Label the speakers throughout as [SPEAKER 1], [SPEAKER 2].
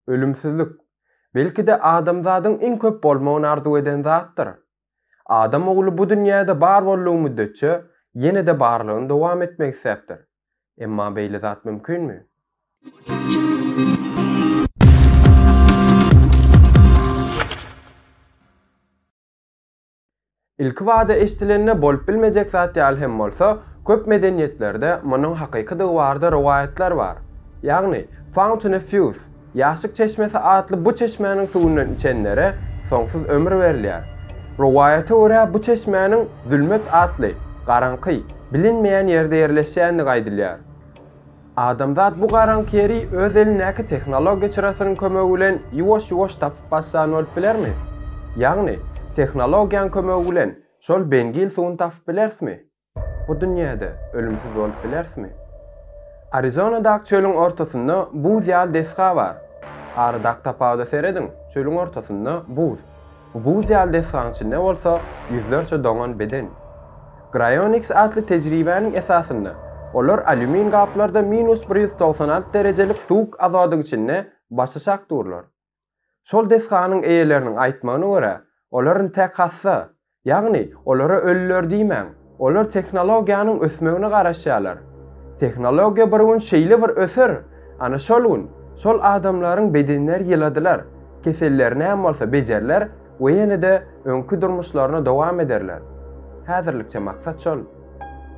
[SPEAKER 1] Ölümsizlik, belki-de, adamzadyň iň köp bolmagyny arzuw eden zatdyr. Adam ogly bu dünýäde bar boldugy müddetçe, ýene-de barlygyny dowam etmek isläpdir. Emma beýle zat mümkinmi? Ilkibada eşdilende bolup bilmejek zat ýaly hem bolsa, köp medeniýetlerde munuň hakykydygy barada rowaýatlar bar. Ýagny, Fountain of Youth, Ýaşlyk çeşmesi, atly bu çeşmäniň suwundan içenlere soňsuz ömür berilýär. Rowaýata görä, bu çeşmäniň Zülmet atly, garaňky, bilinmeýän ýerde ýerleşýändigi aýdylýar. Adamzat bu garaňky ýeri öz elindäki tehnologiýa çyrasynyň kömegi bilen ýuwaş-ýuwaş tapyp başlan bolup bilermi? Ýagny, tehnologiýaň kömegi bilen şol beňgil suwuny tapyp bilerismi? Bu dünýäde ölümsiz bolup bilerismi? Arizonadaky çölüň ortasynda buz ýaly desga bar. Aradaky tapawuda serediň, çölüň ortasynda buz. Buz ýaly desganyň içinde bolsa ýüzlerçe doňan beden. Graionix atly tejribäniň esasynda, olar alýumin gaplarda minus bir ýüz togsan alty derejelik suwuk azodyň içinde başaşak durlar. Şol desganyň eýeleriniň aýtmagyna görä, olaryn tek hassa, ýagny olara ölüler diýmäň, Olar tehnologiýanyň ösmegine garaşýarlar. Tehnologiýa bir gün şeýle bir öser, ana şol gün şol adamlaryň bedenleri ýyladylar, keselleri näm bolsa bejeriler we ýene-de öňki durmuşlaryny dowam ederler. Häzirlikçe maksat şol.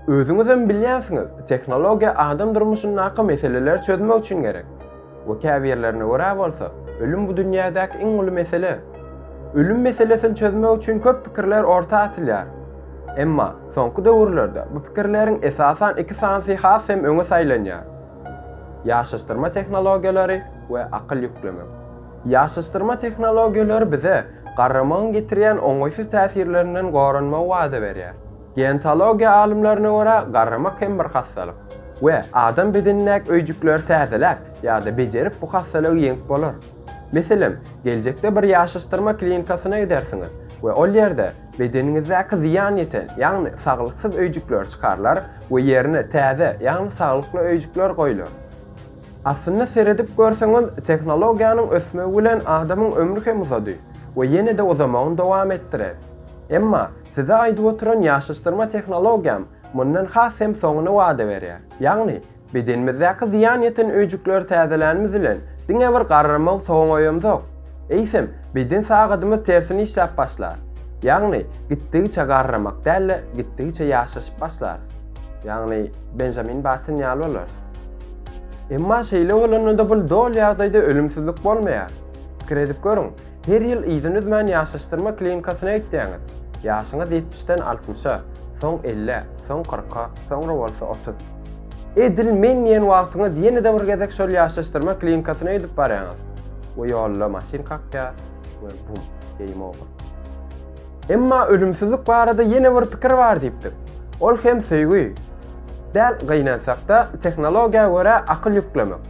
[SPEAKER 1] Özüňizem bilýänsiňiz, tehnologiýa adam durmuşyndaky meseleleri çözmek üçin gerek. We käbirlerine görä bolsa, ölüm bu dünýädäki iň uly mesele. Ölüm meselesini çözmek üçin köp pikirler orta atylýar. Emma, soňky döwürlerde bu pikirleriň esasan iki sanysy has hem öňe saýlanýar. Ýaşaşdyrma tehnologiýalary we akyl ýüklemek. Ýaşaşdyrma tehnologiýalary bize garramagyň getirýän oňaýsyz täsirlerinden goranmagy wada berýär. Geontologiýa alymlaryna görä, garramak hem bir hassalyk we adam bedenindäki öýjükleri täzeläp ýa-da bejerip bu hassalygy ýeňip bolar. Meselem, geljekde bir ýaşaşdyrma klinikasyna gidersiňiz we ol ýerde bedeniňizdäki zyýan ýeten, ýagny saglyksyz öýjükler çykarylar we ýerine täze, ýagny saglykly öýjükler goýlar. Aslynda seredip görseňiz, tehnologiýanyň ösmegi bilen adamyň ömri hem uzady we ýene-de uzamagyny dowam etdirer. Emma Size aýdyp oturan ýaşaşdyrma tehnologiýam mundan has hem soňuny wada berýär. Ýagny, bedenimizdäki zyýan ýeten öýjükleri täzelänimiz bilen diňe bir garramagy soňaýamzok, eýsem, beden sagadymyz tersine işläp başlar. Ýagny, gitdigiçe garramak däl-de, gitdigiçe ýaşaşyp başlarys. Ýagny, Benjamin Batten ýaly bolarys. Emma şeýle bolanda-da bul doly ýagdaýda ölümsizlik bolmaýar. Pikir edip görüň, Her ýyl yzyny üzmän ýaşaşdyrma klinikasyna gitýäňiz. Ýaşyňyz ýetmişden altmyşa, soň ellä, soň kyrka, soňra bolsa otuz. Edil men diýen wagtyňyz ýene-de bir gezek şol ýaşaşdyrma klinikasyna gidip barýaňyz we ýolda maşyn kakýar we bum, game over. Emma ölümsizlik barada ýene bir pikir bar diýipdik. Ol hem söýgi. Däl, gynansakda, tehnologiýa görä akyl ýüklemek.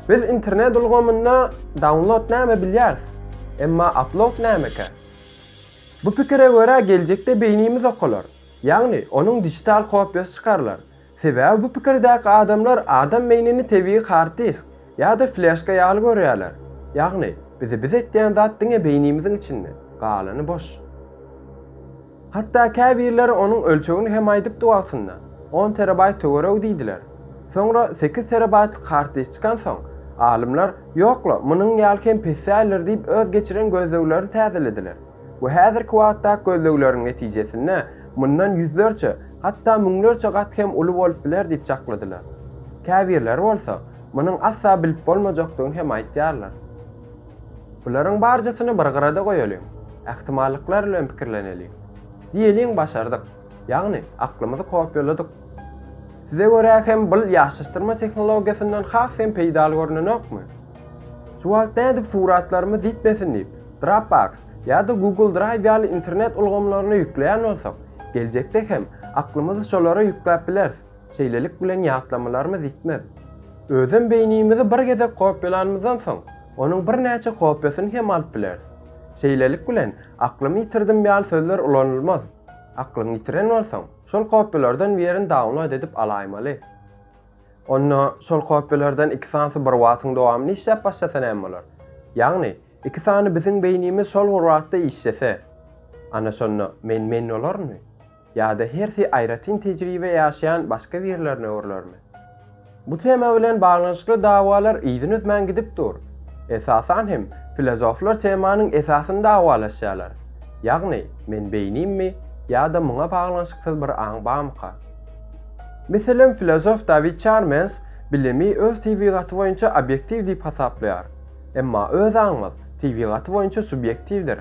[SPEAKER 1] Biz internet ulgamynda download näme bilýäris, emma upload nämekä? Bu pikire görä geljekde beýnimiz okalar, ýagny onuň dijital kopiýasy çykarylar. Sebäbi bu pikirdäki adamlar adam beýnini tebigy hard disk ýa-da fleşka ýaly görýärler. Ýagny bizi biz etýän zat diňe beýnimiziň içinde, galany boş. Hatda käbirleri onuň ölçegini hem aýdypdy wagtynda, on terabaýt töweregi diýdiler. Soňra sekiz terabaýtlyk kartliç çykansoň, alymlar, ýok-la, munuň ýaly hem pes däldir diýip öz geçiren gözleglerini täzelediler we häzirki wagtdaky gözlegleriň netijesinde mundan ýüzlerçe, hatda müňlerçe gat hem uly bolup biler diýip çakladylar. Käbirleri bolsa, munuň asla bilip bolmajakdygyny hem aýtýarlar. Bularyň barjasyny bir gyrada goýalyň. Ähtimallyklar bilen pikirleneliň. Diýeliň başardyk. Ýagny, aklymyzy kopýaladyk. Size görä hem bul ýaşaşdyrma tehnologiýasyndan has hem peýdaly görnenokmy? Şu wagt nädip suratlarymyz ýitmesin diýip, Dropbox ýa-da Google Drive ýaly internet ulgamlaryna ýükleýän bolsak, geljekde hem aklymyzy şolara ýükläp bileris. Şeýlelik bilen ýatlamalarymyz ýitmez. Özem beýnimizi bir gezek kopýalanymyzdan soň, onuň birnäçe kopýasyny hem alyp bileris. Şeýlelik bilen, aklymy ýitirdim ýaly sözler ulanylmaz. Aklyňy ýitiren bolsaň, şol kopýalardan birini download edip alaýmaly. Onda şol kopýalardan iki sanysy bir wagtyň dowamynda işläp başlasa näme bolar? Ýagny, iki sany biziň beýnimiz şol bir wagtda işlese, ana şonda men men bolarynmy? Ýa-da hersi aýratyn tejribe ýaşaýan başga birlerine urlarmy? Bu tema bilen baglanyşykly dawalar yzyny üzmän gidip dur. Esasan hem, filozoflar temanyň esasyny dawalaşýarlar. Ýagny, men beýnimmi ýa-da muňa baglanyşyksyz bir aň bamyka? Meselem, filozof Dawid Çarmens bilimi öz tebigaty boýunça obýektiw diýip hasaplaýar. Emma öz aňymyz tebigaty boýunça subýektiwdir.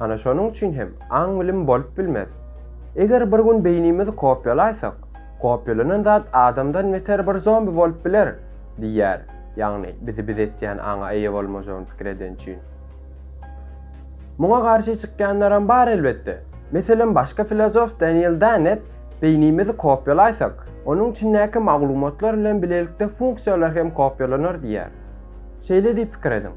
[SPEAKER 1] Ana şonuň üçin hem aň-bilim bolup bilmez. Eger bir gün beýnimizi kopýalaýsak, kopýalanan zat adamdan beter bir zombi bolup biler, diýýär, ýagny bizi biz etýän aňa eýe bolmajagyny pikir eden üçin. Muňa garşy çykýanlaram bar elbetde. Meselem başky filozof Daniel Dennett beýnimizi kopýalaýsak, onuň içindäki maglumatlar bilen bilelikde funksiýalar hem kopýalanar diýýär. Şeýle diýip pikir ediň.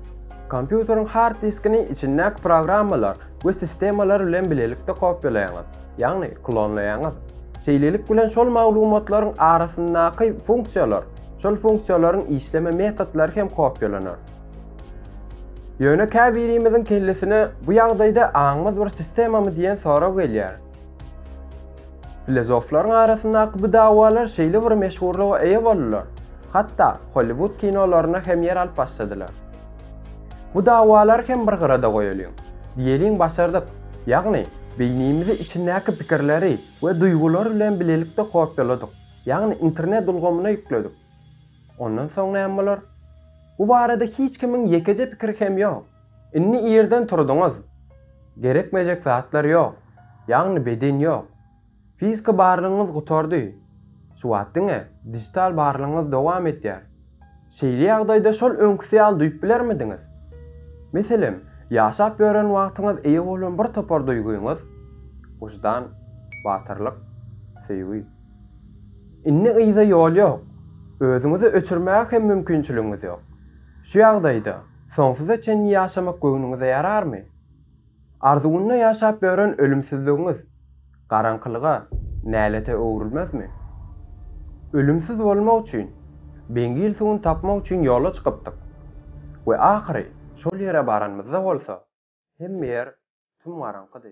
[SPEAKER 1] Kompýuteriň hard diskini içindäki programmalar we sistemalar bilen bilelikde kopýalaýaňyz, ýagny klonlaýaňyz. Şeýlelik bilen şol maglumatlaryň arasyndaky funksiýalar, şol funksiýalaryň işleme metodlary hem kopýalanar. Ýöne käbirimiziň kellesine bu ýagdaýda aňymyz bir sistemamy diýen sorag gelýär. Filozoflaryň arasyndaky bu dawalar şeýle bir meşhurlyga eýe boldular, hatda Holliwud kinolarynda hem ýer alyp başladylar. Bu dawalary hem bir gyrada goýalyň. Diýeliň başardyk, ýagny beýnimizi içindäki pikirleri we duýgulary bilen bilelikde kopýaladyk, ýagny internet ulgamyna ýükledik. Ondan soň näme bolar? Bu barada hiç kimiň ýekeje pikiri hem ýok. Indi irden turduňyz. Gerekmejek zatlar ýok. Ýagny beden ýok. Fiziki barlygyňyz gutardy. Şu wagt diňe dijital barlygyňyz dowam etýär. Şeýle ýagdaýda şol öňküsi ýaly duýup bilermidiňiz? Meselem, ýaşap ýören wagtyňyz eýe bolan bir topar duýgyňyz, wyždan, batyrlyk, söýgi. Indi yza ýol ýok. Özüňizi öçürmäge hem mümkinçiligiňiz ýok. Şu ýagdaýda Soňsuza çenli ýaşamak göwnüňize ýararmy? Arzuwynda ýaşap ýören ölümsizligiňiz garaňkylyga, nälete öwrülmezmi? Ölümsiz bolmak üçin, beňgil suwuny tapmak üçin ýola çykypdyk we ahyry şol ýere baranymyzda bolsa, hemme ýer tüm-garaňkydy.